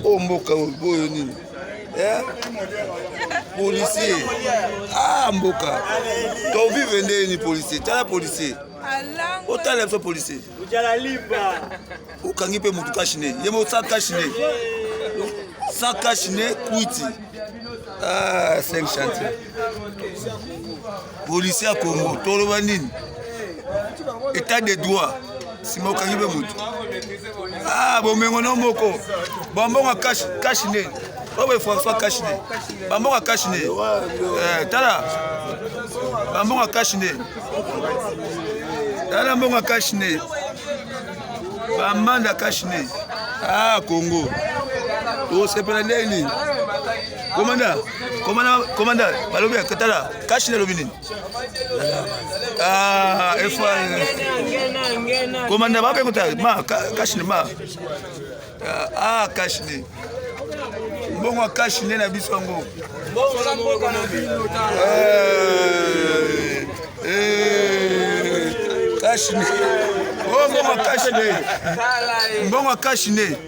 oyo oh, mboka oyo nini eh? policier ah mboka tovivre nde nini policier tala policier otala biso policier okangi mpe motu kashine ye mo sa kashine sa kashine kwiti ah, 5 chantier policier ya congo toloba nini etat de droit nsima okangi mpe motu ah, bomengo no moko bambongo kashi nde oboye françois kashi nde bambongo kashi nde eh, tala bambongo kashi nde tala mbongo kashi nde bamanda kashi nde ah congo tosepela ndeni komanda komanda balobi ya katala Kashi nalobi nini? Ah, efa. Komanda bape kuta ma kashi ma. Ah, kashi ni. Mbongo ya kashi nde na biso yango. Mbongo na mboka na bino ta. Eh. eh. Kashi ni. Oh, mbongo ya kashi ni. Mbongo ya kashi ni.